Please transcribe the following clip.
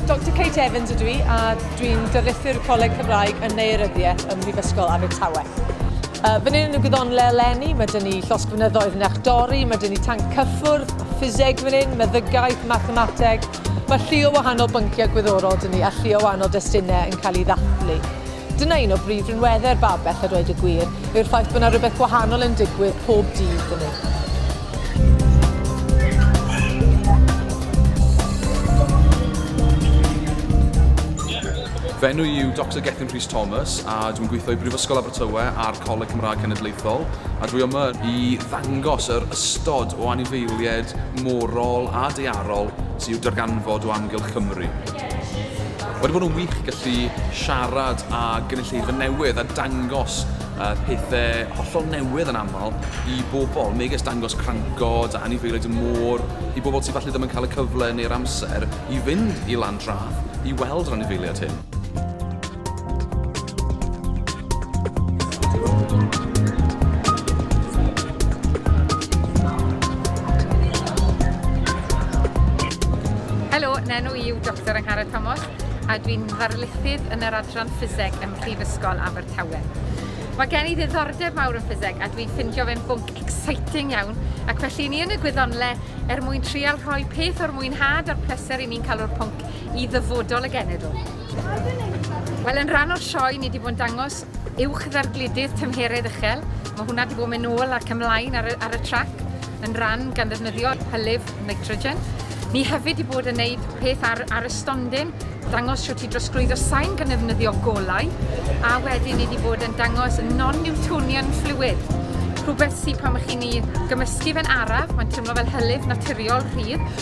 Dr Kate Evans ydw i a dwi'n darlithu'r Coleg Cymraeg yn Neuryddiaeth ym Mhrifysgol Abertawe. Uh, fan hyn yn y gwyddonle eleni, mae dyn ni llosgfynyddoedd yn eich dorri, mae dyn ni tanc cyffwrdd, ffiseg fan hyn, meddygaeth, mathemateg, Mae llu o wahanol bynciau gwyddorol dŷ ni a llu o wahanol destunau yn cael ei ddathlu. Dyna un o brif rinweddau'r Babell, a dweud y gwir, yw'r ffaith bod yna rhywbeth gwahanol yn digwydd pob dydd dŷ ni. Fy enw i yw Doctor Gethin Rhys Thomas a dwi'n gweithio i Brifysgol Abertawe a'r Coleg Cymraeg Cenedlaethol a dwi yma i ddangos yr ystod o anifeiliaid morol a daearol sy i'w darganfod o amgylch Cymru. Wedi bod yn wych gallu siarad â gynulleidfa newydd a dangos pethau hollol newydd yn aml i bobl, megis dangos crancod a anifeiliaid y môr i bobl sydd falle ddim yn cael y cyfle neu'r amser i fynd i Landrath i weld yr anifeiliaid hyn. Helo, nenw i yw Dr Angharad Thomas a dwi'n ddarlithydd yn yr adran ffiseg ym Mhrifysgol Abertawe. Mae gen i ddiddordeb mawr yn ffiseg a dwi'n ffindio fe'n bwnc exciting iawn ac felly ni yn y gwyddonle er mwyn trial rhoi peth o'r mwynhad a'r pleser i ni'n cael o'r pwnc i ddyfodol y genedl. Wel, yn rhan o'r sioe, ni wedi bod yn dangos uwch ddargludydd tymheredd uchel. Mae hwnna wedi bod yn mynd nôl ac ymlaen ar y, ar y trac yn rhan gan ddefnyddio hylif nitrogen. Ni hefyd wedi bod yn gwneud peth ar, ar y stondin, dangos sut i drosglwyddo sain gan ddefnyddio golau, a wedyn ni wedi bod yn dangos non-Newtonian fluid, rhywbeth sydd pan ych chi'n ei gymysgu fe'n araf, mae'n teimlo fel hylif naturiol rhydd,